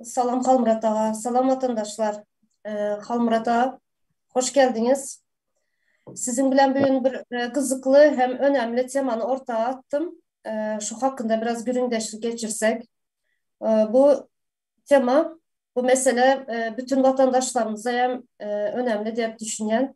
Salam Halmyrat aga. Salam watandaşlar. Halmyrat aga, hoş geldiňiz. Siziň bilen bu gün bir gyzykly hem önemli temany orta atdym. Şu hakynda biraz gürüňdeşlik geçirsek. Bu tema, bu mesele bütin watandaşlarymyza hem önemli diýip düşünýän.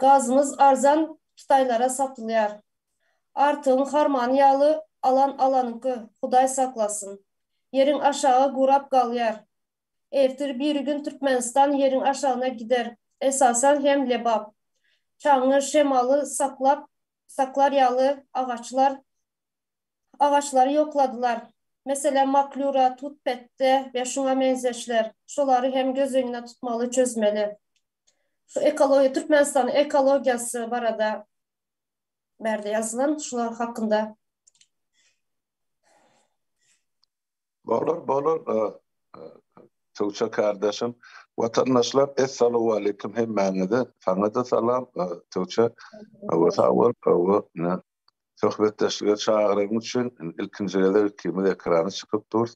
Gazymyz arzan Hytaýlara satylýar. Artygyň harmany ýaly alan alanyňky Hudaý saklasyn. Ýeriň aşagy gurap galýar. Ertir biri gün Türkmenistan ýeriň aşagyna gider esasan hem Lebap. Çaňňy şemaly saklap saklar ýaly agaçlar. agaçlary ýokladylar. Meselem, maklýura, tut-petde we şuňa meňzeşler. Şolary hem göz öňünde tutmaly, çözmeli. Ekologiýa, Türkmenistanyň ekologiýasy barada bärde ýazylan, şular hakynda. Bolar, bolar, Tugça kardeşim. Watandaşlar, essalowaleýkim hemmäňize. Saňa-da salam, Tugça. Hawa, sag bol. Hawa, ine, Söhbetdeşlige çagyryň üçin ilkinji gezek ikimiz ekrana çykyp durus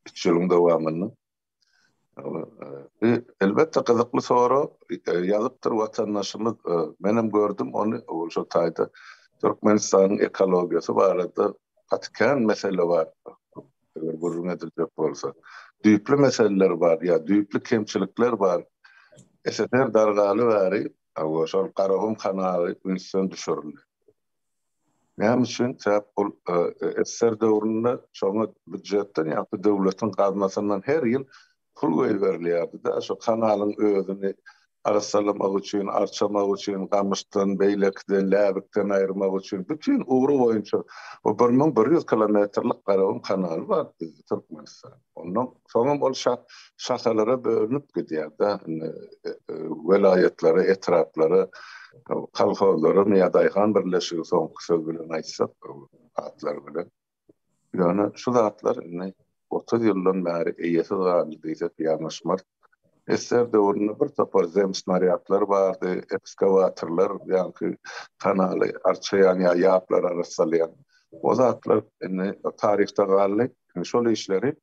üç ýylyň dowamynda. Bi elbetde gyzykly sorag ýazypdyr watandaşymyz. Menem gördüm ony şo taýda Türkmenistanyň ekologiýasy barada gaty kän mesele bar. Eger gürrüň ediljek bolsa. Düýpli meseleler bar ýa düýpli kemçilikler bar. SSR dargaly bäri Hawa, şol Garagum kanaly ünsden düşürildi. Näme üçin? Sebäp ol SSR döwründe şoňa býujetden, ýa-da döwletiň gaznasyndan her ýyl pul goýberilýärdi-de, şo kanalyň özüni arassalamak üçin, arçamak üçin, gamyşdan, beýlekiden, läbikden aýyrmak üçin, bütin ugry boýunça o bir müň bir ýüz kilometrlik Garagum kanaly bar bizde, Türkmenistanda. Ondan soňam ol şahalara bölünip gidýär-de, indi welaýatlara, etraplara, kolhozlara, ýa daýhan birleşigi soňky söz bilen aýtsak, atlar bilen. Ýöne şu zatlar indi otuz ýyldan bäri eýesiz galdy diýsek ýalňyşmarys. Sssr döwründe bir topar zemsnarýadlar bardy, ekskawatorlar, ýagny kanaly arçaýan ýa ýaplary arassalaýan. O zatlar indi taryhda galdy. Indi şol işleri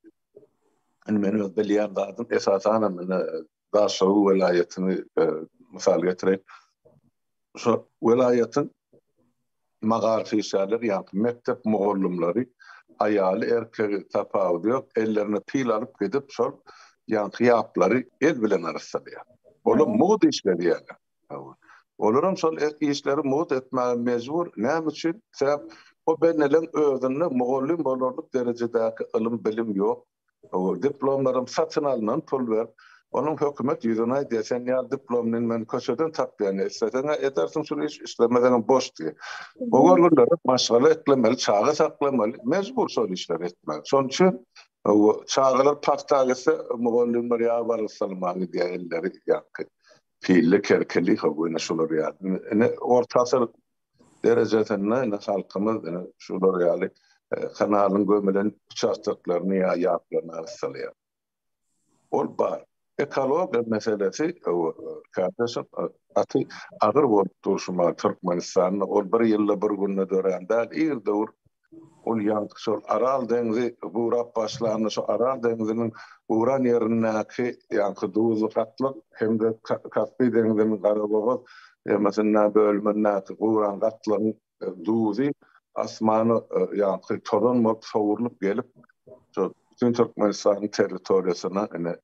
indi men öz bilýän zadym esasanam indi Daşoguzy welaýatyny mysal getireýin. Şu welaýatyň magaryfyşaýlary, ýagny mekdep mugallymlary, aýaly-erkegi tapawudy ýok, ellerine pil alyp gidip, şol ýaňky ýaplary el bilen arassalýar. Olam mugt iş berýärler. Hawa. Olaram şol e, işleri mugt etmäge mejbur. Näme üçin? Sebäp o benneleň özünde mugallym bolarlyk derejedäki ylym-bilim ýok. Ow diplomlarym satyn alnan pul berip onuň hökümet ýüzüni aýdýa sen ýaly diplomlyn men köçeden tapýan isleseňä edersiň şuny iş islemeseňem boş diýe bu görgünlere maşgala eklemeli çaga saklamaly mejbur şol işleri etmeli şonuň üçin ow çagalar pagta gitse mugallymlar ýaly balyk salama gidýa elleri ýaňky pilli kerkeli ow ine şular ýaly ine orta asyr derejesinde indi halkymyz şular ýaly kanalyň gömülen uçastoklaryny ýa ýaplaryny arassalýar. Ol bar. Ekologiýa meselesi kardeşim gaty agyr bolup dur şu türkmenistanda ol bir ýylda bir günde dörän däl ir döwür Ol ýaňky şol Aral deňzi gurap başlanda şu Aral deňziniň guran ýerindäki ýaňky duzly gatlyk hem-de Kaspiý deňziniň Garabogaz ýemasynda bölümindäki guran gatlygyň duzy asmana ýaňky tozan bolup sowrulyp gelip şol bütin Türkmenistanyň territoriýasyna ine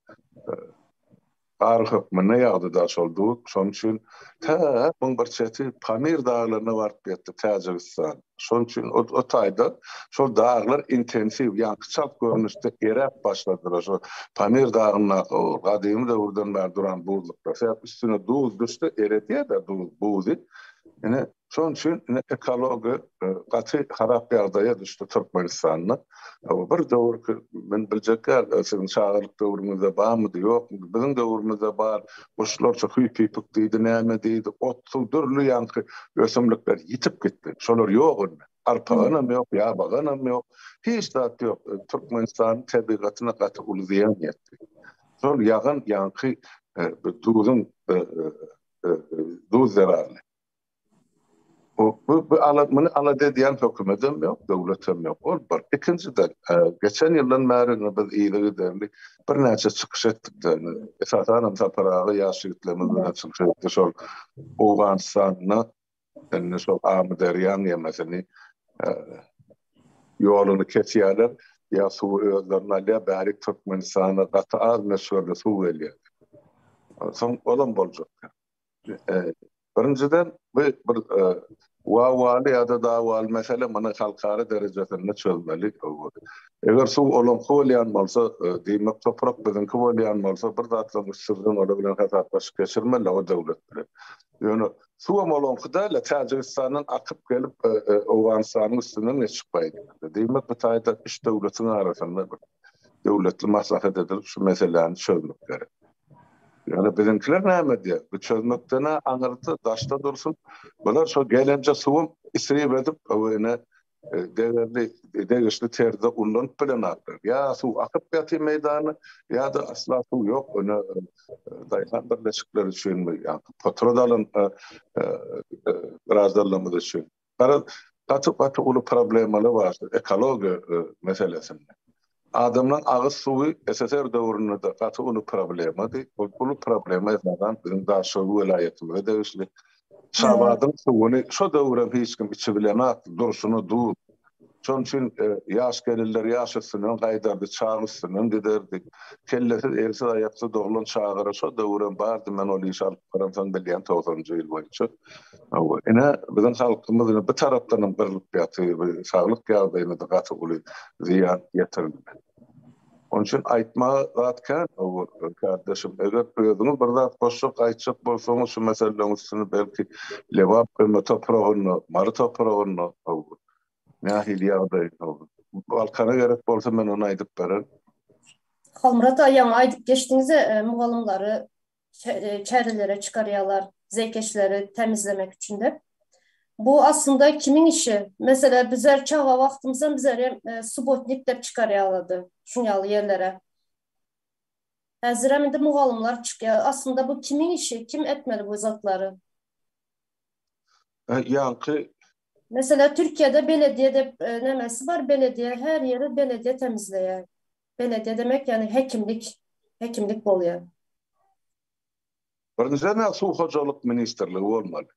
Gar hökmünde ýagdy-da şol duz. Şonuň üçin tä muň bir çeti Pamir daglaryna baryp ýetdi, Täjigistan. Şonuň üçin o taýda şol daglar intensiw, ýaňky çalt görnüşde eräp başladylar. Şo Pamir dagyndaky o gadymy döwürden bäri duran buzluklar. Sebäp üstüne duz düşse eredýär-de duz, buzy. Ine, Şonuň üçin indi ekologiýa gaty harap ýagdaýa düşdi Türkmenistanda. Bir döwürki, men biljek däl, siziň çagalyk döwrüňizde barmydy, ýokmudy, biziň döwrümizde bar, guşlarça hüýpipik diýdi, näme diýdi, ot-suw, dürli ýaňky ösümlikler ýitip gitdi. Şolar ýok indi. Arpaganam ýok, ýabaganam ýok. Hiç zat ýok. Türkmenistanyň tebigatyna gaty uly zyýan ýetdi. Şol ýagan ýaňky duzuň, duz zerarly. Bu ala, muny alada edýän hökümetem ýok, döwletem ýok. Ol bir. Ikinjiden, geçen ýyldan bäri biz yzygiderli birnäçe çykyş etdik. Esasan hem Sapar aga ýaş ýigitlerimiz bilen çykyş etdi. Şol Owganystanda indi şol Amyderýanyň ýemesini, ýoluny kesýärler, ýa suwy özlerine alýar, bärik Türkmenistana gaty az möçberde suw gelýär. Soň olam boljak. Birinjiden, bu bir wawaly ýa-da dawaly mesele, muny halkara derejesinde çözmeli. Eger suw olaňky bolýan bolsa, diýmek, toprak biziňki bolýan bolsa, bir zatlaryň üstünden olar bilen hasaplaşyk geçirmeli o döwlet bilen. Ýöne suwam olaňky däl-de, Täjigistandan akyp gelip, Owganystanyň üstünden geçip gaýdýar. Diýmek, bu taýda üç döwletiň arasynda bir döwletli maslahat edilip, şu meseläni çözmek gerek. Ýöne biziňkiler näme edýär? Bu çözmekden-ä aňyrsy daşda dursun, bular şo gelenje suwam isrip edip, öwezine degerli, degişli terzde ullanyp bilenoklar. Ýa suw akyp ýatyr meýdanda, ýa-da asla suw ýok. Ine, daýhan birleşikleri üçinmi, ýa-da potrad alan biradarlarymyz üçin. Garaz, gaty gaty uly problemaly bar şu ekologiýa meselesinde. Adamlaryň agyz suwy SSR döwründe-de gaty uly problemady. Bu uly problema esasan biziň Daşoguz welaýatymyza degişli. Şabadyň suwuny şo döwürem hiç kim içibilenok, durşuna duz. Şonuň üçin ýaş gelinler ýaş üstünden gaýdardy, çag üstünden giderdi. Kellesiz, elsiz, aýaksyz doglan çagara şo döwürem bardy, men ol işi alyp baramsoň bilýän togsanynjy ýyl boýunça. Hawa, ine, biziň halkymyz ine bu tarapdanam gyrlyp ýatyr, bu saglyk ýagdaýyna-da gaty uly zyýan ýetirildi. Onuň üçin aýtmaga zat kän, hawa, kärdeşim, eger özüňiz bir zat goşjak, aýtjak bolsaňyz şu meseleleriň üstüni belki Lebap öňe topragynda, Mary topragynda, hawa, nähili ýagdaý, hawa, Balkana gerek bolsa men ony aýdyp bererin. Howmyrat aga, ýaňy aýdyp geçdiňiz-de, mugallymlary çärelere çykarýarlar, zeýkeşleri tämizlemek üçin diýip. Bu aslynda kimiň işi? Meselem, bizler çaga wagtymyzdan bizler hem subotnik diýip çykarýarlardy şuň ýaly ýerlere. Häzir hem indi mugallymlar çykýar. Aslynda bu kimiň işi? Kim etmeli bu zatlary? Ýaňky Meselem, Türkiýede belediýe diýip nemesi bar, belediýe, her ýeri belediýe tämizleýär. Belediýe demek ýagny hekimlik, hekimlik bolýar. Birinjiden men suw hojalyk ministrligi bolmaly.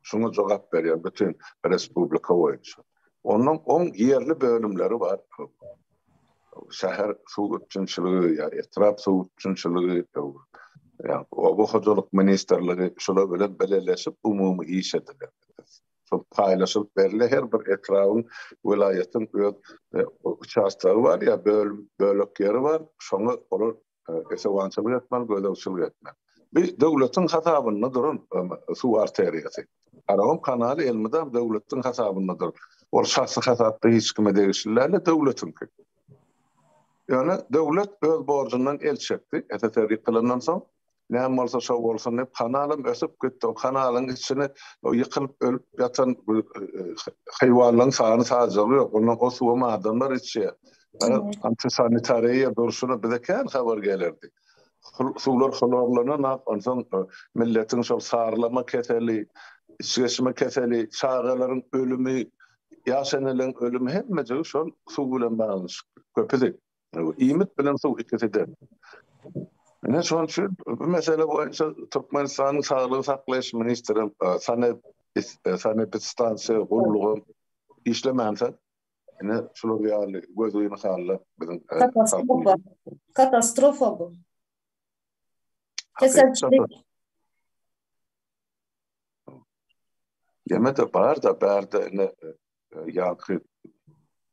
Şuňa jogap berýän bütün respublika boýunça. Onuň oň ýerli bölümleri bar. Şäher suw üpjünçiligi ýa etrap suw üpjünçiligi ýa oba hojalyk ministrligi şular bilen bileleşip umumy iş ediler. şol paýlaşylyp berile her bir etrabyň welaýatyň öz e, uçastogy bar ýa bölüm bölek ýeri bar şoňa olar e, esewançylyk etmeli gözegçilik etmeli bu döwletiň hasabynda duran e, suw arteriýasy Aragom kanaly elmydam döwletiň hasabynda dur. Ol şahsy hasapda hiç kime degişli däl, döwletiňki. Ýöne döwlet öz borjundan el çekdi. SSR ýykylandan soň näme bolsa şo bolsun diýip kanalam ösüp gitdi o kanalyň içini o ýykylyp ölüp ýatan haýwanlaryň sany sajagy ýok ondan o suwam adamlar içýär antisanitariýa durşuna bize kän habar gelerdi suwlar hlorlananok onsoň e, milletiň şol sarylama keseli içgeçme keseli çagalaryň ölümi ýaş eneleriň ölümi hemmejigi şol suw bilen baglanyşykly köpüsi Iýmit bilen suw ikisi-de. Ine şonuň üçin bu mesele boýunça Türkmenistanyň Saglygy saklaýyş ministri Sanep sanepidstansiýa gullugy işlemänsoň, ine şular ýaly gözgyny hally biziň Katastrofa, katastrofa bu. Keselçilik. Ýene-de bar-da, bärde ine ýaňky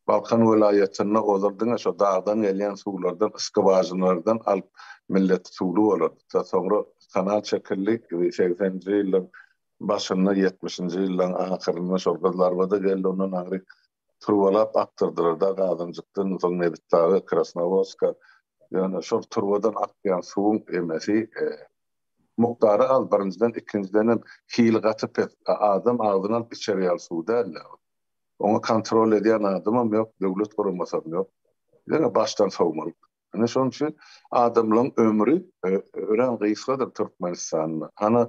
Balkan welaýatynda ozal diňe şo dagdan gelýän suwlardan, skwažinalardan alyp millet suwly bolardy. Soňra kanal çekildi. Segsenji ýyllaryň başynda, ýetmişinji ýyllaryň ahyrynda şol Gyzlarbada geldi. Ondan aňry turbalap akdyrdylar da Gazanjykdan, soň Nebitdaga, Krasnowodska. Ýöne şol turbadan akýan suwuň emmesi mukdary az birinjiden ikinjidenem hili gaty pes adam agzyňa alyp içer ýaly suw dälda ol oňa kontrol edýän adamam ýok döwlet guramasam ýok diňe başdan sowmalyk ine şonuň üçin adamlaň ömri örän gysgadyr türkmenistanda hany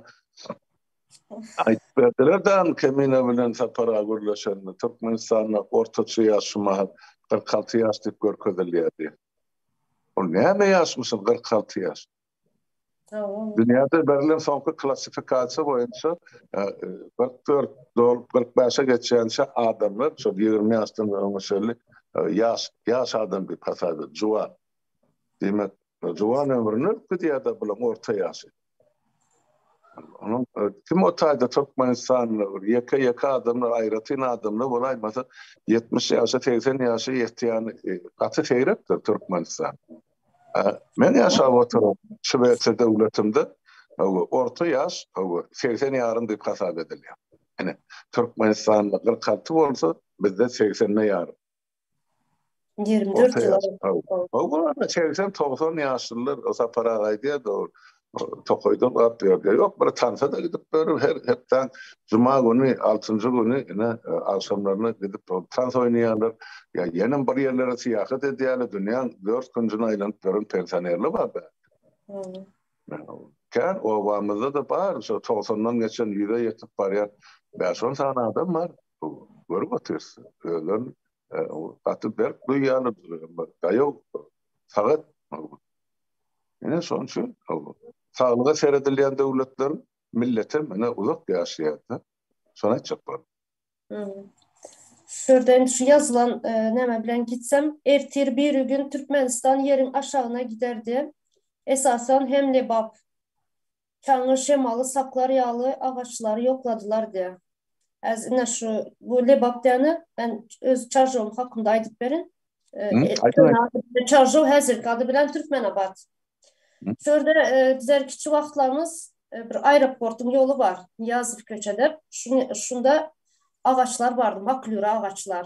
aýdyp berdiler dan kemine bilen sapara gürleşende türkmenistanda ortaça ýaş şu mahat kyrk alty ýaş diýip görkezilýär diýip ol näme ýaşmyşyn kyrk alty ýaş Dünýäde berlen soňky klassifikasiýa boýunça kyrk dört dolup kyrk bäşe geçýänçä adamlar şol ýigrimi ýaşdan öňe çenli ýaş ýaş adam diýip hasap edilýär. Juwan. Diýmek, juwan ömrüni ötgüdýär-de bulaň orta ýaşy. Onuň kim o taýda türkmenistanly bir ýeke-ýeke adamlar aýratyn adamlar bolaýmasa ýetmiş ýaşy segsen ýaşy ýetýäni gaty seýrekdir türkmenistan. Men ýaşap oturan Şwesiýa döwletinde orta ýaş segsen ýarym diýip hasap edilýär. Ine, Türkmenistanda kyrk alty bolsa, bizde segsende ýarym. Ýigrimi dört ýyl. Hawa, hawa, segsen-togsan ýaşlylar, Sapar aga aýdýardy, tokaýdan gap ýerde ýok, bir tansa-da gidip ýörüp, her hepdäň juma güni, altynjy güni ine, agşamlaryna gidip ol tans oýnaýarlar. Ýa ýenem bir ýerlere syýahat edýärler, dünýäň dört künjüni aýlanyp ýören pensionerler bar bä. Kän obamyzda-da bar, şo togsandan geçen, ýüze ýetip barýan bäş-on sany adam bar. Görüp otyrys, özlerini gaty berk duýýarlar, daýaw, sagat Ine şonuň üçin saglyga seredilýän döwletler millete mine uzak ýaşaýarda. Şony aýtjak boldum. Şu ýerden şu ýazylan e, näme bilen gitsem, ertir biri gün Türkmenistan ýeriň aşagyna giderdi. Esasan hem Lebap. Taňňy şemaly saklar ýaly agaçlary ýokladylar diýýär. Häzir ine şu bu Lebap diýýäni men öz Çarjowyň hakynda aýdyp berin. Çarjow häzirki ady bilen Türkmenabat. Şu ýerde bizler kiçi wagtlarymyz bir aeroportyň ýoly bar. Nyýazow köçe diýip, şunda agaçlar bardy, maklýura agaçlar.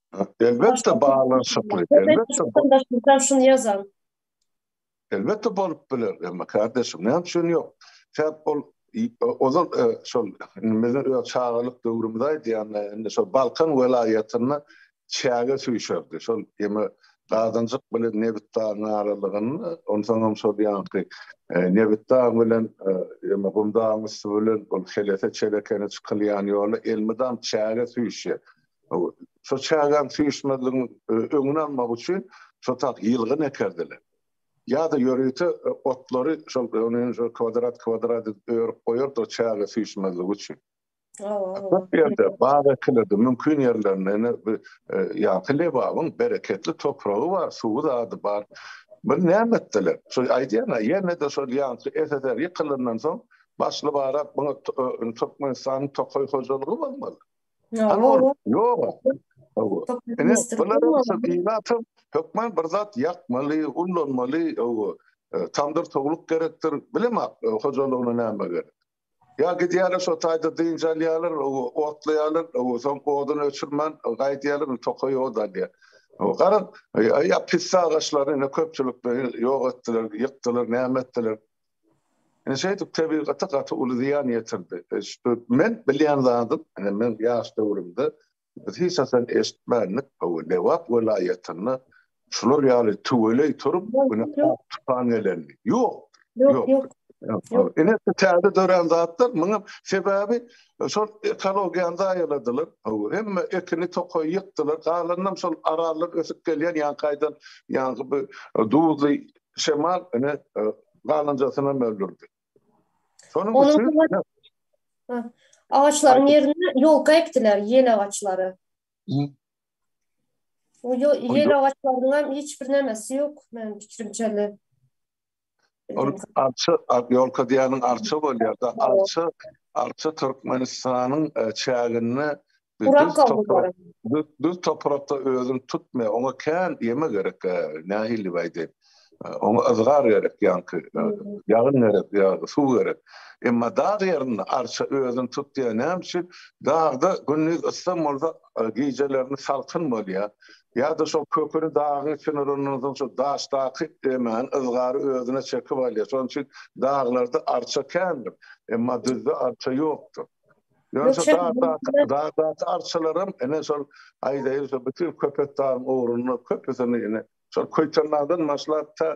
Elbetde baglanyşykly, elbetde. Başdaşymyzam şuny ýazan. Elbetde bolup biler, emma kardeşim, näme üçin ýok? Sebäp ol ozal e, şol biziň öz çagalyk döwrümizde aýdýan, e, indi şol Balkan welaýatynda çäge süýşerdi. Şol ýeme Gazanjyk bilen Nebitdagyň aralygynda, onsoň hem şol ýanky e, Nebitdag bilen ýeme Gumdagyň üsti bilen ol Helese çelekene çykylýan ýola elmydam çäge süýşýär. Şo çägäň süýşmezligiň öňüni almak üçin şo tak ýylgyn ekerdiler. Ýa-da ýörite otlary şol kwadrat-kwadrat edip örüp goýardy o çäge süýşmezligi üçin. Köp ýerde bag ekilirdi, mümkin ýerlerinde ine bu ýaňky Lebabyň bereketli topragy bar, suwy zady bar. Bir näme etdiler? Şo aýdýan-a, ýene-de şol ýaňky SSR ýykylandan soň başly-barak muňa Türkmenistanyň tokaý hojalygy bolmaly. Ýok. Ýok. Ine, bularyň syzyny atyp, hökman bir zat ýakmaly, ullanmaly, owo, tamdyr towluk gerekdir, bilemok, hojalygyna näme gerek. Ýa gidýärler şo taýda dynç alýarlar, owo, otlaýarlar, owo, soň oduny öçürmän gaýdýarlar, indi tokaý ot alýar. Owo, gara, ýa pisse agaçlary indi köpçülikleýin ýok etdiler, ýykdylar, näme etdiler. Ine şeýdip tebigata gaty uly zyýan ýetirdi. Men bilýän zadym, ine meň ýaş döwrümde biz hiç haçan eşitmändik, hawa Lebap welaýatynda şular ýaly tüweleý turup, ine ak tupan gelenini. Ýokdur. Ýok, ýok. Ine şu täze dörän zatlar muňa sebäbi şol ekologiýany zaýaladylar. Hawa hemme ekini tokaýy ýykdylar. Galanynam şol arallar ösüp gelýän ýaňkaýdan ýaňky bu duzly Şemal ine galanjasynam öldürdi. Şonuň üçin agaçlaryň ýerine ýolka ekdiler, ýel agaçlary. O ýel agaçlarynyň hem hiç bir nämesi ýok, meniň pikirimçe. Ol arça, ýolka diýeniň arça bolýar-da. Arça, arça Türkmenistanyň çäginde Gurak gawunlary. Düz toprakda özüni tutmaýar. Oňa kän ýeme gerek. Nähili diýip aýdaýyn. Oňa yzgar gerek ýaňky. Ýagyn gerek, ýa-da suw gerek. Emma dag ýerinde arça özüni tutýar. Näme üçin? Dagda gündiz ysgyn bolsa, gijelerine salkyn bolýar. Ýa-da şol köküni dagyň içine urandan soň şol daşdaky emäni, yzgary özüne çekip alýar. Şonuň üçin daglarda arça kändir. Emma düzde arça ýokdur. Ýöne şu dagdaky arçalaram ene şol aýdaýyn şol bütin köpetdagyň ugruny köpüsini ene şol Köýtendagdan başlap ta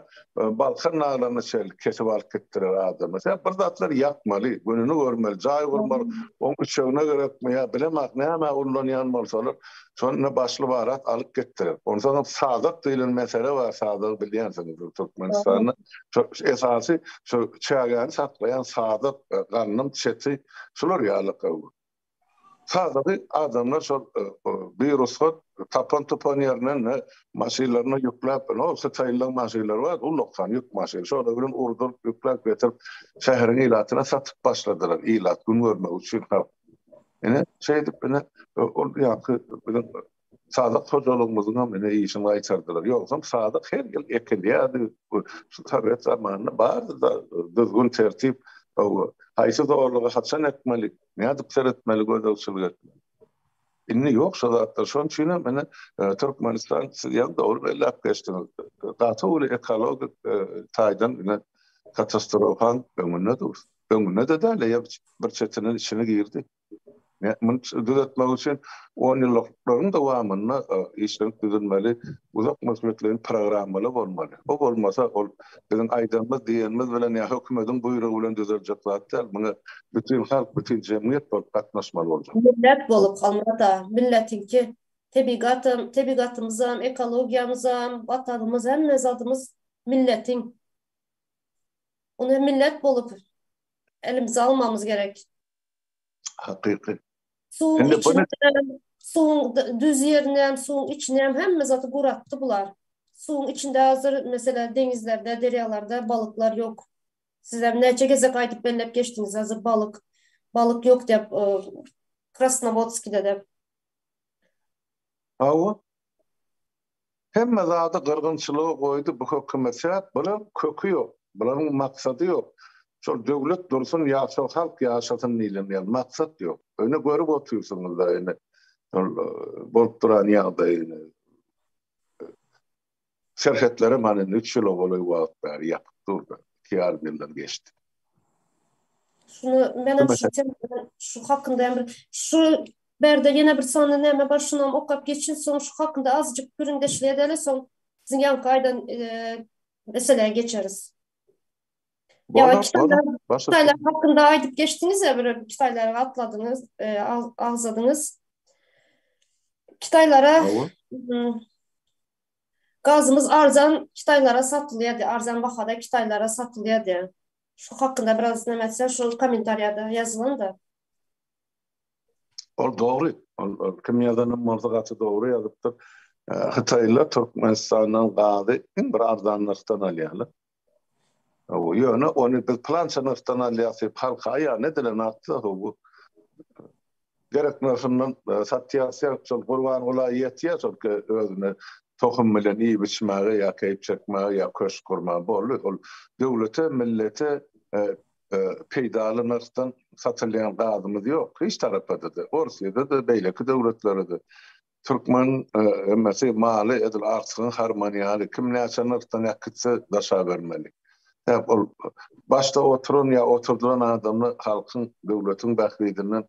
e, Balkan daglaryna çenli kesip alyp gitdiler adamy. Sen bir zatlar ýakmaly, gününi görmeli, jaý gurmaly. Oň üçegine gerekmi ýa bilemak näme ullanýan bolsalar, şonda başly barat alyp gitdiler. Onsoň hem sadak diýlen mesele bar, sadagy bilýänsiňizdir Türkmenistanda. Şu esasy şu çägäni saklaýan sazyk, ganyň çeti şular ýaly gowy. Sazygy adamlar şol birugsat tapan-tupan ýerinden maşynlaryna ýükläp, ol hytaýlyň maşynlary bar, ullakan ýük maşyny, şolar bilen urduryp, ýükläp getirip, şäheriň ilatyna satyp başladylar, ilat gün görmegi üçin. Ine, şeýdip, ine, ol ýaňky biziň Sadyk hojalygymyzyň hem ine işini gaýtardylar. Ýogsam sadyk her ýyl ekilýärdi. Şu sowet zamanynda bardy-da düzgün-tertip. Haýsy zorlugy haçan ekmeli, nädip seretmeli, gözegçilik etmeli. Indi ýok şo zatlar. Şonuň üçin hem ine Türkmenistan, siz ýaňy dogry belläp geçdiňiz, gaty uly ekologik taýdan ine katastrofanyň öňünde dur. Öňünde-de däl, eýe bir çetinden içine girdi. Muny düzetmek üçin onýyllyklaryň dowamynda işlenip düzülmeli uzak möhletleýin programmalar bolmaly. Bu bolmasa, ol biziň aýdanymyz, diýenimiz bilen ýa hökümetiň buýrugy bilen düzeljek zat däl, muňa bütin halk, bütin jemgyýet bolup gatnaşmaly boljak. Millet bolup, Halmyrat-a, milletiňki tebigatam, tebigatymyzam, ekologiýamyzam, Watanymyz, hemme zadymyz milletiň. Ony millet bolup elimize almamyz gerek. Hakyky. Suwuň içine suwuň düz ýerini hem, suwuň içini hem hemme zady guratdy bular. Suwuň içinde hazir meselem deňizlerde, derýalarda balyklar ýok. Siz hem näçe gezek aýdyp belläp geçdiňiz hazir balyk, balyk ýok diýip, Krasnowodskide-de. Hawa. Hemme zady gyrgynçylyga goýdy bu hökümet sebäp bular köki ýok bularyň maksady ýok şol döwlet dursun ýaşa halk ýaşasyn diýlen ýaly maksat ýok öne görüp otyrsyňyzda ene şol bolup duran ýagdaýyny serhetleri mana indi üç ýyla golaý wagt bäri ýapyk durdy iki ýarym ýyldan geçdi. Şunu menem şu şu hakynda hem şu Bärde ýene bir sany näme bar şunam okap geçin soň şu hakynda azjyk gürrüňdeşlik edeli soň siziň ýaňky aýdan meselä geçeris. Ýa kitaplar hakynda aýdyp geçdiňiz ýa bir kitaplar atladyňyz agzadyňyz. Kitaplara Gazymyz arzan kitaplara satylýardy, arzan bahada kitaplara satylýardy. Şu hakynda biraz näme etseň, şol kommentariýada ýazylyň-da. Ol dogry. Ol kim ýazanam bolsa gaty dogry ýazypdyr. Hytaýlylar Türkmenistandan gazy iň bir arzan nyrhdan alýarlar. Ýöne ony biz plança nyrhdan alýas diýip halka aýan edilen atda bu gerek nyrhyndan e, satýas ýa şol gurban gula ýetýär şol özüne tohum bilen iýip içmäge ýa keýp çekmäge ýa köşk gurmaga boldy. Ol döwlete, millete e, peýdaly nyrhdan satylýan gazymyz ýok, hiç tarapa-da, Orsýede-de, beýleki döwletlere-de. Türkmen hemmesi maly edil agtygyň harmany ýaly, kim näçe nyrhdan äkitse, daşa bermeli. Sebäp ol başda oturan ýa oturdylan adamlar halkyň, döwletiň bähbidinden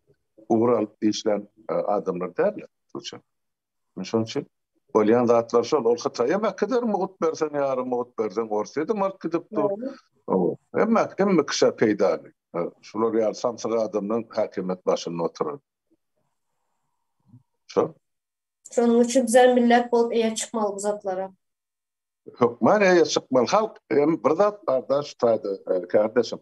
ugur alyp işlän adamlar däldir. Men şonuň üçin bolýan zatlar şol. Ol Hytaý hem äkider mugut berseň ýarym mugut berseň Orsýede mart gidip dur. Hemme hemme kişä peýdaly. Şular ýaly samsyk adamdan häkimiýet başynda oturan. Şo. Şonuň üçin bizem millet bolup eýe çykmaly bu zatlara. Hökman eýe çykmaly. Halk hem bir zat barda şu taýda kardeşim.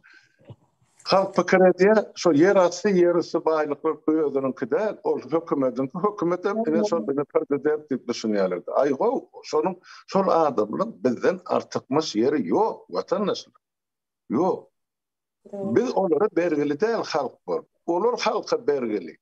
Halk pikir edýär, şu ýer asty, ýer üsti baýlyklar özüniňki däl, ol hökümetiňki, hökümet hem ine şol bilen prezident diýip düşünýärler. Aý gow, şonuň şol adamlaryň bizden artykmaç ýeri ýok, watandaşlar. Ýok. Biz olara bergili däl halk bolup. Olar halka bergili.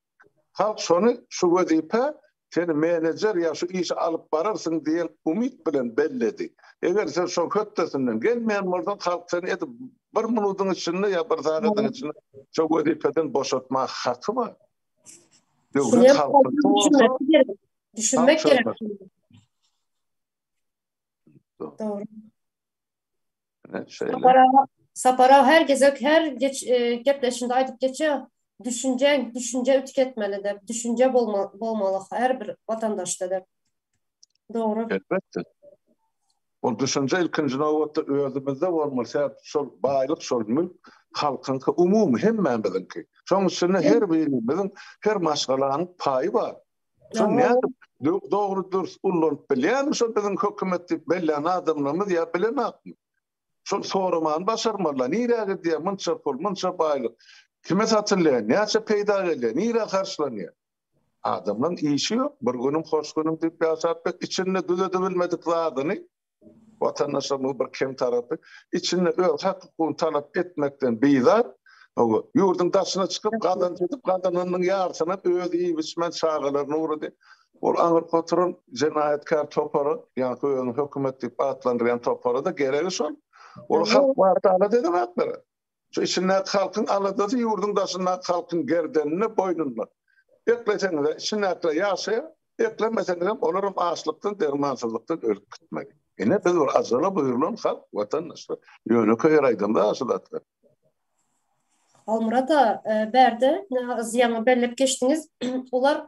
Halk şony şu wezipä seni menejer ýa şu işi alyp bararsyň diýen umyt bilen belledi. Eger sen şoň hötdesinden gelmeýän bolsaň, halk seni edil bir minudyň içinde ýa bir sagadyň içinde şo wezipeden boşatmak haky bar. Döwlet halkyňky bolsa, halk çözmez. Dogry. Sapara, sapara her gezek her geç, e, gepleşinde aýdyp geçýär. Düşünje, düşünje ütük etmeli dep, düşünje bolma, bolmaly her bir watandaşda dep. Dogry. Elbetde. Ol düşünje ilkinji nobatda özümizde bolmaly. Sebäp şol baýlyk, şol mülk halkyňky umumy hemmämiziňki. Şoň üçin her birimiziň her maşgalanyň paýy bar. Şoň nädip dogry dürs ullanyp bilýärmi şo biziň hökümet diýip bellän adamlarymyz ýa bilenakmy? Şol soramany başarmalylar. Nirä gidýär munça pul, munça baýlyk? Kime satylýar? Näçe peýda gelýär? Nirä harçlanýar? Adamlaryň işi ýok. Bir günüm hoş günüm diýip ýaşap bet içinde düzedibilmedik zadyny Watandaşlarymyz bir kem tarapy, içinde öz hak-hukugyny talap etmekden bizar, ýurduň daşyna çykyp, gazanç edip, gazananynyň ýarysyna öz iýip-içmän çagalaryna ugrady. Ol aňyrky oturan jenaýatkär topara, ýaňky özüni hökümet diýip atlandyrýan topara-da geregi şol. Ol halk barada alat edemoklar. Şu içindäki halkyň aladasy ýurduň daşyndaky halkyň gerdeninde, boýnunda. Ekleseňiz-ä, içindäkiler ýaşaýar, eklemeseňizem, olaram açlykdan, dermansyzlykdan ölüp gitmeli. Ine, biz bir ajala buýrulan halk, watandaşlar. Ýönekeý ýere aýdamda-a şu zatlar. Halmyrat aga, bärde ýaňy belläp geçdiňiz, olar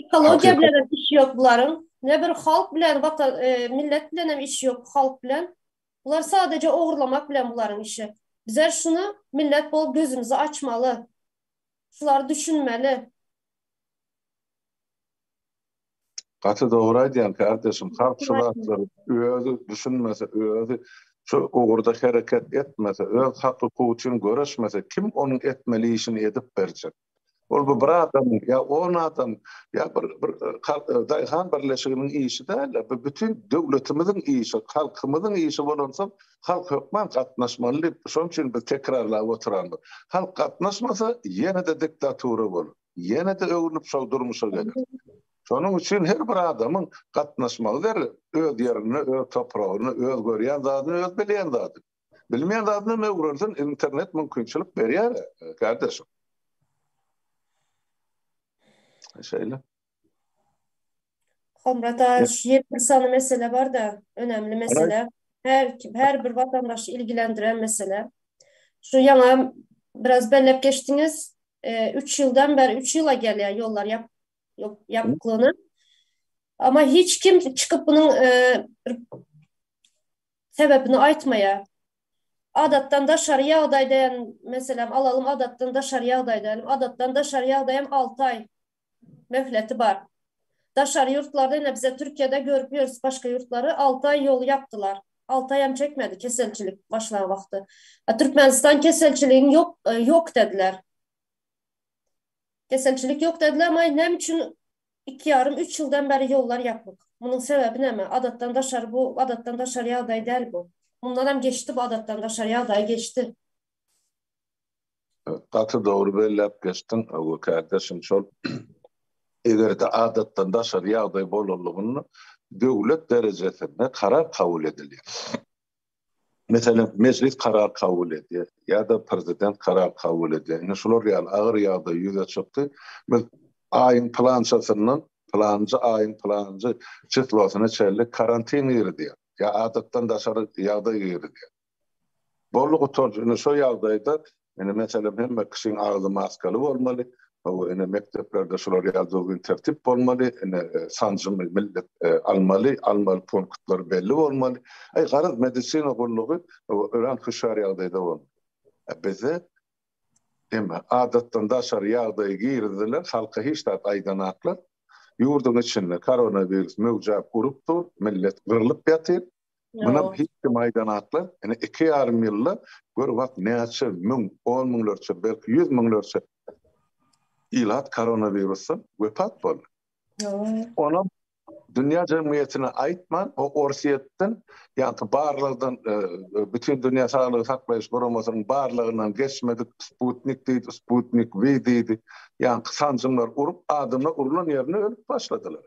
Ekologiýa bilen hem işi ýok bularyň. Ne bir halk bilen, watan, e, millet bilen hem işi ýok, halk bilen. Bular sadaja ogurlamak bilen bularyň işi. Bizler şuny millet bolup gözümizi açmaly. Şulary düşünmeli. Gaty dogry aýdýaň kardeşim, halk şu zatlary özi düşünmese, özi şu ugurda hereket etmese, öz haky-hukugy üçin göreşmese, kim onuň etmeli işini edip berjek? Ol bu bir adam ýa on adam ýa bir bir e, daýhan birleşiginiň işi däl, bu bütün döwletimiziň işi, halkymyzyň işi bolansoň, halk hökman gatnaşmaly diýip, şonuň üçin biz tekrarlap oturandyk. Halk gatnaşmasa, ýene-de diktatura bolar. Ýene-de öwrülip şol durmuşa gelir. Şonuň üçin her bir adamyň gatnaşmagy zerur. Öz ýerine, öz topragyna, öz görýän zadyny, öz bilýän zadyny. Bilmeýän zadyny öwrensin, internet mümkinçilik berýär, gardaşym. Şeýle. Hemra daş, ýet bir sany mesele bar-da, önemli mesele. Her, her bir watandaşy ilgilendiren mesele. Şu ýaňa biraz belläp geçdiňiz, e, üç ýyldan bäri, üç ýyla gelýär ýollar ýap, ýapyklygyna. Ama hiç kim çykyp bunun e, sebebini aýtmaýar. Adatdan daşary ýagdaý diýen, meselem, alalym, adatdan daşary ýagdaý diýelim. Adatdan daşary ýagdaýam alty aý möhleti bar. Daşary ýurtlarda, ine, bize Türkiýede görüp ýörüs başga ýurtlary, alty aý ýoly ýapdylar. Alty aýam çekmedi keselçilik başlan wagty. A Türkmenistan keselçiligiň ýok, ýok dediler. Keselçilik ýok dediler, emma näme üçin Iki ýarym, üç ýyldan bäri ýollar ýapyk. Munuň sebäbi näme? Adatdan daşary bu, adatdan daşary ýagdaý däl bu. Mundanam geçdi bu adatdan daşary ýagdaý, geçdi. Gaty dogry belläp geçdiň, Öwez kärdeşim. Şol eger-de adatdan daşary ýagdaý bolanlygynda döwlet derejesinde karar kabul edilýär. Meselem, mejlis karar kabul edýär ýa-da prezident karar kabul edýär. Indi şular ýaly agyr ýagdaý ýüze çykdy. Biz aýyň pylançasyndan pylanjy aýyň pylanjy çislosyna çenli karantin girizýär ýa adatdan daşary ýagdaý girizýär. Boldy gutardy. Indi şo ýagdaýda Ine, meselem, hemme kişiň agzy maskaly bolmaly, hawa, ine, mekdeplerde şular ýaly düzgün tertip bolmaly, ine, sanjymy millet almaly, almaly punktlary belli bolmaly. Aý, garaz, medisina gullugy örän hüşgär ýagdaýda bolmaly. A bizde, eme, adatdan daşary ýagdaýy girizdiler, halka hiç zat aýdanaklar. Ýurduň içinde koronawirus möwjäp urup dur, millet gyrlyp ýatyr. Muny hiç kim aýdan akla, ine iki ýarym ýylda gör wah näçe müň, on müňlerçe, belki ýüz müňlerçe ilat koronawirusdan wepat boldy. Onam dünýä jemgyýetine aýtman, o Orsýetden, ýagny barlagdan, Bütindünýä saglygy saklaýyş guramasynyň barlagyndan geçmedik Sputnik diýdi, Sputnik V diýdi, ýagny sanjymlar urup, adamlar urlan ýerinde ölüp başladylar.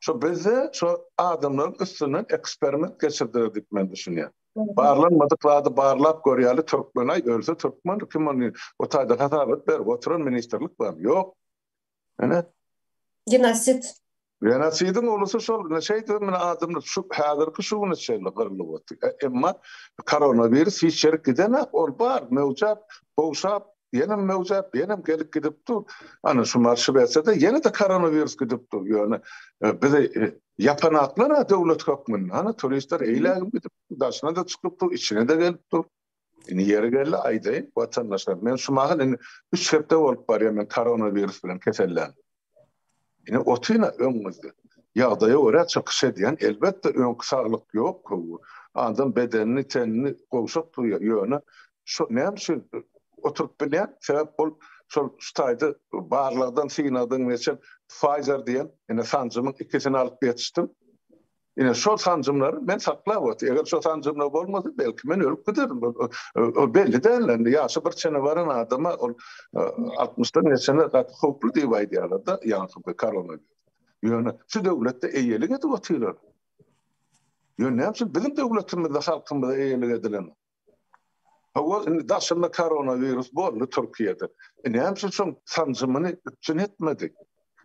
Şo bizde şo adamlaryň üstünden eksperiment geçirdiler diýip men düşünýän. Barlanmadyk zady barlap görýäli türkmenaý ölse türkmen kim ony o taýdan hasabat berip oturan ministrlik bar ýok. Ine. Genosid. Genosidiň ulusy şol ine şeýdip men adamlar şu häzirki şu güne çenli gyrlyp otyr. Emma koronawirus hiç ýerik gidenak ol bar möwjap gowşap Ýenem möwjäp, ýenem gelip gidip dur. Ana şu marşy berse-de, ýene-de koronawirus gidip dur. Ýöne bizi ýapan aklar-a döwlet hökmünde. Ana turistler eýlägip gidip, daşyna-da çykyp dur, içine-de gelip dur. Indi ýeri geldi aýdaýyn, watandaşlar, men şu mahal indi üç hepde bolup barýar men koronawirus bilen keselländim. Ine, otyna öňňüzde. Ýagdaýa görä çykyş edýän, elbetde, öňki saglyk ýok köwi. Adam bedenini, tenini gowşak duýýar. Ýöne, şo näme üçin oturyp bilýän? Sebäp ol şol şu taýda barlagdan synadym geçen Pfizer diýen, ine, sanjymyň ikisini alyp ýetişdim. Ine, şol sanjymlary men saklap otyryn. Eger şo sanjymlar bolmasa, belki, men ölüp giderin. Ol belli däl indi. Ýaşy bir çene baran adama ol altmyşdan geçende gaty howply diýip aýdýarlar-da, ýaňky bir koronawirus. Ýöne şu döwletde eýelik edip otyrlar. Ýöne näme üçin biziň döwletimizde halkymyza eýelik edilenok? Hawa, indi daşynda koronawirus boldy Türkiýede. E, näme üçin sanjymyny üpjün etmedi?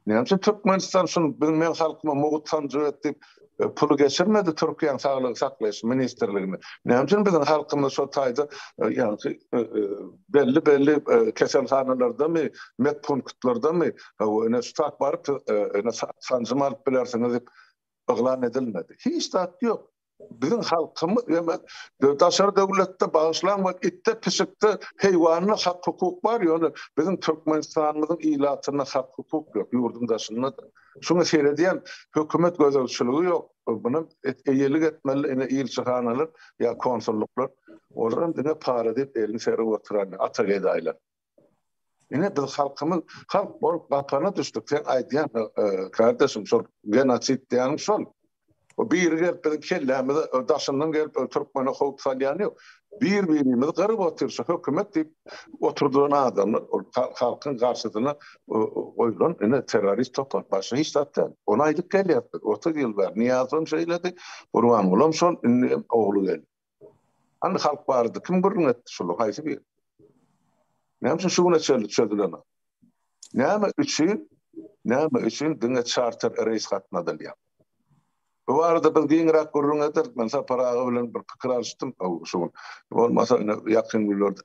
Näme üçin Türkmenistan şuny biz men halkyma mugt sanjyp etdik, e, puly geçirmedi Türkiýäň saglygy saklaýyş ministrligine? Näme üçin biziň halkymyz şo taýda e, ýagny e, belli belli keselhanalardamy, medpunktlardamy hawa ine şu baryp ine sanjym alyp bilersiňiz diýip yglan edilmedi. Hiç zat ýok. Biziň halkymyz demek daşary döwletde bagyşlaň we itde pişikde heýwanda hak hukuk bar ýöne biziň Türkmenistanymyzyň ilatynda hak hukuk ýok ýurduň daşynda da şuňa seredýän hökümet gözegçiligi ýok buna eýelik etmeli ine ilçihanalar ýa konsulluklar olar hem diňe para diýip elini serip oturan ata gedaýlar. Ine biz halkymyz halk bolup gapana düşdük. Sen aýdýan kardeşim şol genotsid diýýän şol. O biri gelip biziň kellämize daşyndan gelip türkmene howp salýan ýok. Bir-birimizi gyryp otyr şu hökümet diýip oturdylan adamlar ol halkyň garşysyna goýlan ine terrorist topar. Başga hiç zat däl. Ony aýdyp gelýäris biz. Otuz ýyl bäri Nyýazow hem şeýledi, Gurbanguly hem şol, indi hem ogly geldi. Hany halk bardy, kim gürrüň etdi şular, haýsy biri? Näme üçin şu güne çenli çözülenok? Näme üçin, näme üçin diňe çarter reýs gatnadylýar? Bu barada biz giňräk gürrüň ederdik. Men Sapar aga bilen bir pikir alyşdym şu gün. Bolmasa ine ýakyn günlerde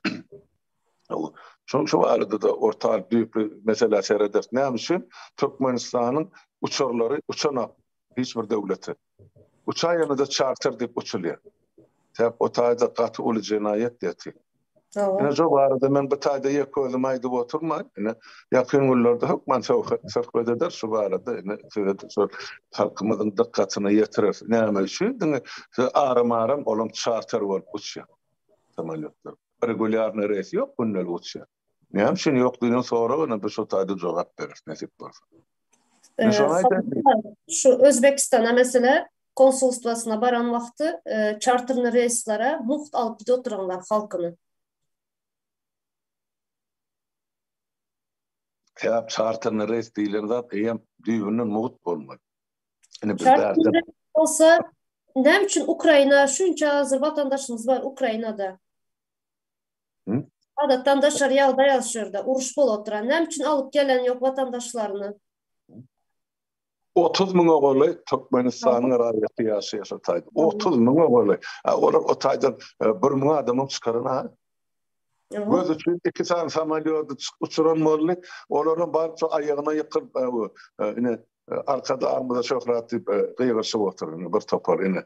şu şu barada da orta düýpli meselä serederdik. Näme üçin Türkmenistanyň uçarlary uçanok? hiç bir döwlete. Uçan ýene-de çarter diýip uçulýar. Sebäp o taýda gaty uly jenaýat ýatyr. Ine şo barada men bu taýda ýek özüm aýdyp oturmaýyn. Ine ýakyn günlerde hökman söhbet ederis şu barada. Ine size-de şol halkymyzyň dykgatyna ýetireris. Näme üçin diňe şu aram-aram olam çarter bolup uçýar samolýotlar. Regulýarnyý reýsi ýok gündelik uçýar. Näme üçin ýok diýen soragana bir şu taýda jogap beris nesip bolsa. Men şony aýdaýyn. Şu Özbegistana meselem konsulstwasyna baran wagty çarterni reýslere mugt alyp gidip oturanlar halkyny. Sebäp çarterni reýs diýlen zat eýýäm düýbünden mugt bolmaly. Indi biz bärde. Bolsa näme üçin Ukraina şunça azerwatandaşymyz bar Ukrainada. Hı? Adatdan daşary ýagdaý az şurda. Uruş bolup oturan. Näme üçin alyp gelen ýok watandaşlaryny? 30 müňe goly Türkmenistanyň raýaty ýaşaýar şu taýda. 30 müňe goly. Ha, Olar o taýdan e, bir müň adamyň çykaran ha. Ýok. Göz üçin iki sany samolýody çyk- uçuran boldy. Olaryň baryp şu aýagyna ýykyp, e, bu, e, ine, e, arkadagymyza şöhrat diýip e, gygyrşyp otur indi bir topar ine.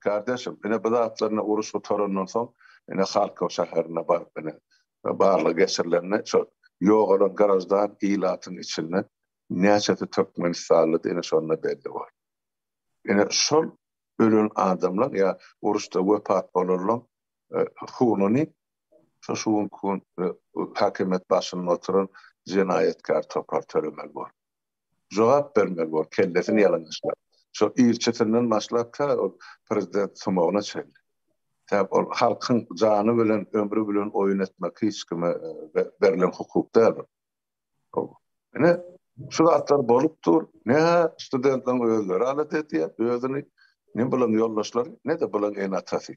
Kardeşim, ine bu zatlaryny uruş gutarandan soň, ine Halkow şäherine baryp ine barlag geçirilende şo ýogalan graždan ilatyň içinde näçesi türkmenistanlydy ine şonda belli boldy. Ine şol ölen adamlar ýa uruşda wepat bolanlar hununy şo şu gün häkimiýet başynda oturan jenaýatkär topar tölemeli bolar. jogap bermeli bor kellesini ýalaňaçlap şo ilçisinden başlap tä ol prezident sumagyna çenli tä ol halkyň jany bilen ömri bilen oýun etmek hiç kime berlen hukuk däl ol howwa ine şu zatlar bolup dur ne studentleriň özleri alat edýär özüni ne bularyň ýoldaşlary ne de bularyň ene atasy.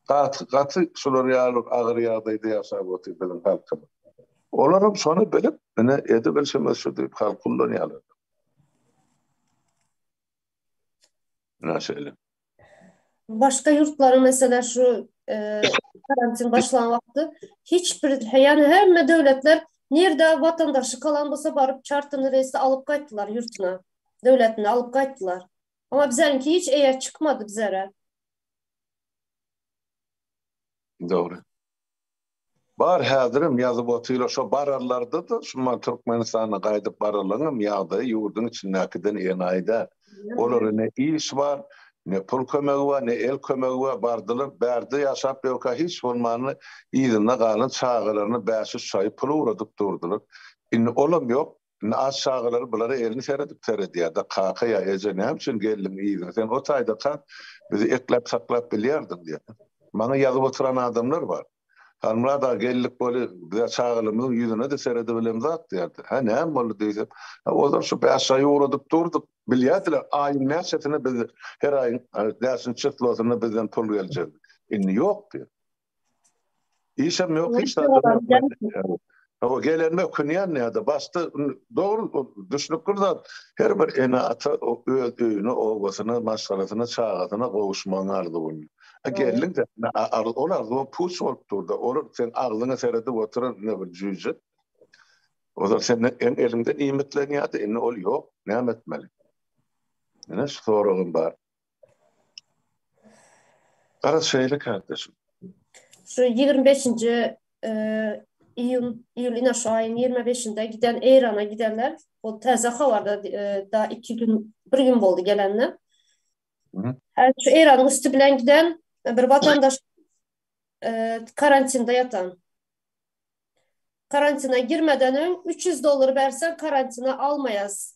Gaty, gaty şular ýaly agyr ýagdaýda ýaşap otyr biziň halkymyz. Olaram şony bilip, ine, edibilşimiz şu diýip halky ullanýarlar. Ine şeýle. Başga ýurtlaryň meselä şu karantin başlan wagty hiç bir ýany hemme döwletler nirde watandaşy kalan bolsa baryp çartyny reýsde alyp gaýtdylar ýurtuna. Döwletine alyp gaýtdylar. Ama bizäniňki hiç eýe çykmady bizere. Dogry. Bar häzirem ýazyp otylar şo bararlardadyr şuman Türkmenistana gaýdyp baralaňam ýagdaýy ýurduň içindäkiden enaýy däl. Olara ne iş bar, ne pul kömegi bar, ne el kömegi bar, bardylar bärde ýaşap ýörkä hiç bolmanda yzynda galan çagalaryna bäş-üç çaýy pul ugradyp durdylar. Indi olam ýok. Indi az çagalar bulara elini seredip seredýärdi, Kaka ýa eje näme üçin geldiň yza, sen o taýdaka bizi ekläp saklap bilýärdiň diýip. Maňa ýazyp oturan adamlar bar. Halmyrat aga geldik boli bize çagalarymyzyň ýüzüne-de seredibilen zat diýerdi. Hä näme boldy diýsem, Hä ozal şu bäş aý ugradyp durduk, bilýärsiler aýyň näçesine biz her aýyň bäşinji çyslosynda bizden pul geljek. Indi ýok diýip. Işem yok, hiç zat yok. O gelenme künyan ne da başta doğru düşünüp durdan her bir ene ata öz öýüne, obasına, maşgalasına, çagasına gowuşmagyň arzuwyny. E, gelin de ol arzuwa puç bolup durdy. Ol sen agzyňa seredip oturan ne bir jüýje. O da senden en elinden iýmitlenýärdi. Indi ol ýok. Näme etmeli? Ene şu soragym bar. Gara şeýle kardeşim. Şu 25-nji iýun, iýul ina şu aýyň 25-nde giden Eýrana gidenler, ol täze habarda da 2 gün, 1 gün boldy gelende. Hä şu Eýranyň üsti bilen giden bir watandaş karantinde ýatan. Karantine girmeden öň 300 dollar berseň karantine almaýas.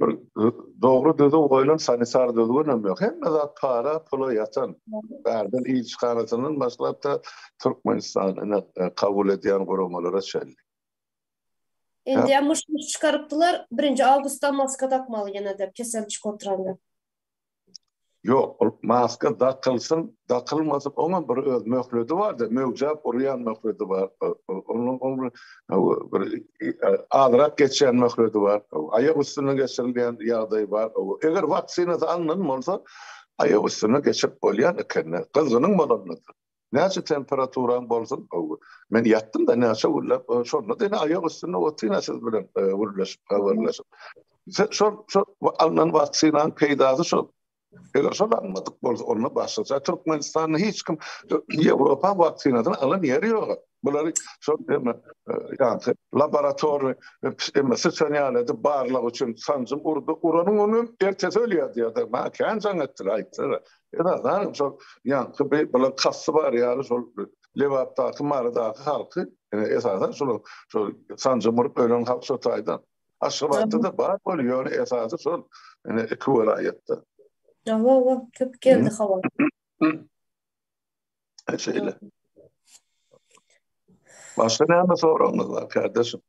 Bir dogry düzüw goýlan sanitar düzgünem ýok. Hemme zat para, pula ýatan. Bärden ilçihanasynyň başlap-da Türkmenistan ine kabul edýän guramalara çenli. Indem myş-myş çykarypdylar, birinji awgustdan maska dakmaly ýene-de kesel çykyp oturanda. Ýok, ol maska dakylsyn, dakylmasyn, oňam bir öz möhledi bar-da, möwjäp urýan möhledi bar. Onuň ol bir bir azrak geçýän möhledi bar. Aýak üstüne geçirilýän ýagdaýy bar. Eger waksinasy alnan bolsa, aýak üstüne geçirip bolýan ekeni, gyzgynyň bolanda-da. Näçe temperaturaň bolsun men ýatdym-da näçe günläp şonda diňe aýak üstünde otyryn-a siz bilen gürleşip habarlaşyp. Şol şol alnan waksinanyň peýdasy şol. Eger şol almadyk bolsa onda başgaça Türkmenistanda hiç kim Ýewropa waksinasyny alan ýeri ýok-a. Bulary şol ýerine ýa-da laboratorny emma syçan ýaly edip barlag üçin sanjym urdy. Uranyň ony hem ertesi ölýär diýýärdi. Maňa kän jaň etdi, aýtdylar. Esasan şol ýaňky bi bulaň kasty bar ýaly şol Lebapdaky, Marydaky halky esasan şol şol sanjym urup ölen halk şo taýdan. Aşgabatda-da bar bol ýöne esasy şol ine iki welaýatda. Hawa-hawa köp geldi habar. Şeýle. Başga näme soragyňyz bar, kardeşim?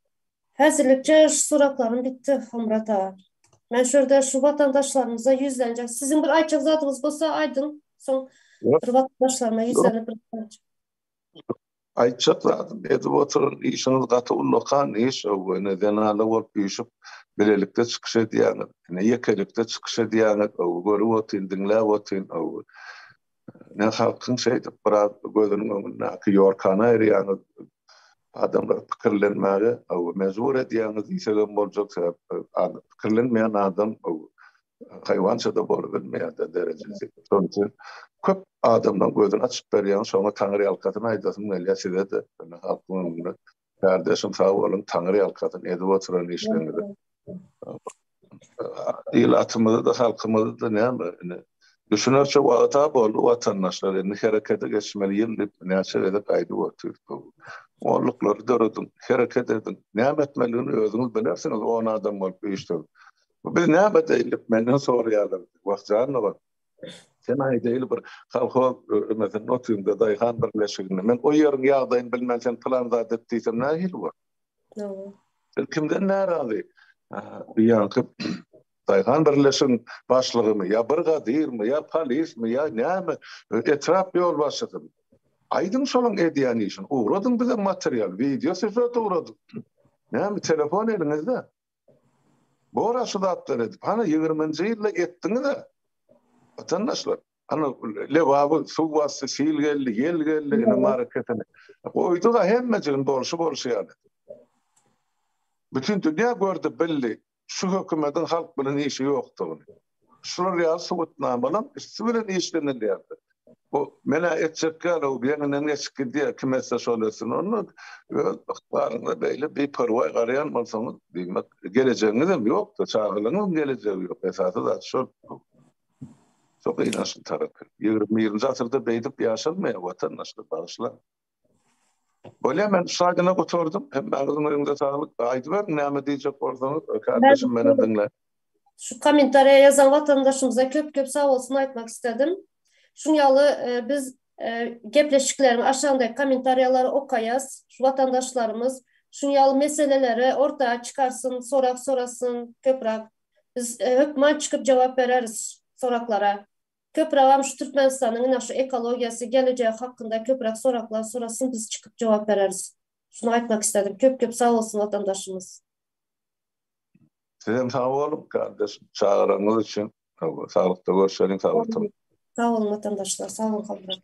Häzirlikçe şu soraklarym gitdi, Hemrat aga. Men şu ýerde şu watandaşlarymyza ýüzlenjek. Siziň bir aýtjak zadyňyz bolsa aýdyň, soň bir watandaşlaryma ýüzlenip bir Aýtjak zadym, edip otur, işiňiz gaty ullakan iş, ine zenanlar bolup üýşüp, bilelikde çykyş edýäňiz, ine ýekelikde çykyş edýäňiz, görüp otyryn, diňläp otyryn. Ine halkyň şeýdip biraz gözüniň öňündäki ýorkana aýyrýaňyz, adamlary pikirlenmäge mejbur edýäňiz diýsegem boljak, sebäp pikirlenmeýän adam haýwança-da bolubilmeýär-de derejesi. Şonuň üçin köp adamlaryň gözüni açyp berýäňiz, şoňa Taňyrýalkasyn aýdasym gelýär size-de, ine halkyň öňünde Kardeşim sag bolun, taňyr ýalkasyn, edip oturan işleriňizi. Il atymyzy da, halkymyzy da näme, indi düşünerçe wagta boldy watandaşlar, indi herekete geçmeli ýyl diýip näçe gezek aýdyp otyr. Onluklary dörediň, hereket ediň, näme etmeligini özüňiz bilersiňiz, on adam bolup işleň. Biz näme diýdik, menden soraýarlar, wah janyny bar. Sen aýdaýyl bir kolhoz ömezin otynda daýhan birleşiginde. Men o ýeriň ýagdaýyny bilmän sen pylan zat et diýsem nähili bor? Dogry. Sen kimden närazy? Diýýänki daýhan birleşigiň başlygymy ýa bir gadyrmy ýa polismi ýa näme etrap ýolbaşçysymy? Aýdyň şolaň edýän işini. Ugradyň bize material, wideo sýužet ugradyň. Näme telefon eliňizde? Bora şu zatlar edip, hany ýigriminji ýylda etdiňiz-ä. Watandaşlar, hany Lebaby suw basdy, sil geldi, ýel geldi, ine marekesini goýduk-a hemmejigini bolşy-bolşy ýaly. Bütin dünýä gördi, bildi, şu hökümetiň halk bilen işi ýokdugyny. Şular ýaly subutnamalar üsti bilen işlenilýärdi. Bu menä etjek ýaly bu ýeňinden geçip gidýär kim etse şol etsin onda öz ykbalyňyza beýle biperwaý garaýan bolsaňyz diýmek gelejegiňizem ýokda çagalaryňyzyň gelejegi ýok esasy zat şol şo gynançly tarapy ýigrimi birinji asyrda beýdip ýaşalmaýar watandaşlar bagyşlaň. Bolýa men şaýdyna gutardym. Hemmäňiziň öýüňize saglyk. Aýdyberiň näme diýjek bolsaňyz kardeşim menem diňle. Şu kommentariýa ýazan watandaşymyza köp köp sag bolsun aýtmak istedim. Şuň ýaly biz gepleşikleriň aşagyndaky kommentariýalary okaýas. Şu watandaşlarymyz şuň ýaly meseleleri orta çykarsyn, sorag sorasyn köprak. Biz hökman çykyp jogap bereris soraglara. Köpregem şu Türkmenistanyň ine şu ekologiýasy gelejegi hakynda köpürak soraklar sorasyn biz çykyp jogap bereris. Şuny aýtmak isledim. Köp köp sag bolsun watandaşymyz. Sizem sag boluň kardeşim çagyranyňyz üçin. Saglykda görşeliň sag boluň. Sag boluň watandaşlar sag boluň Halmyrat.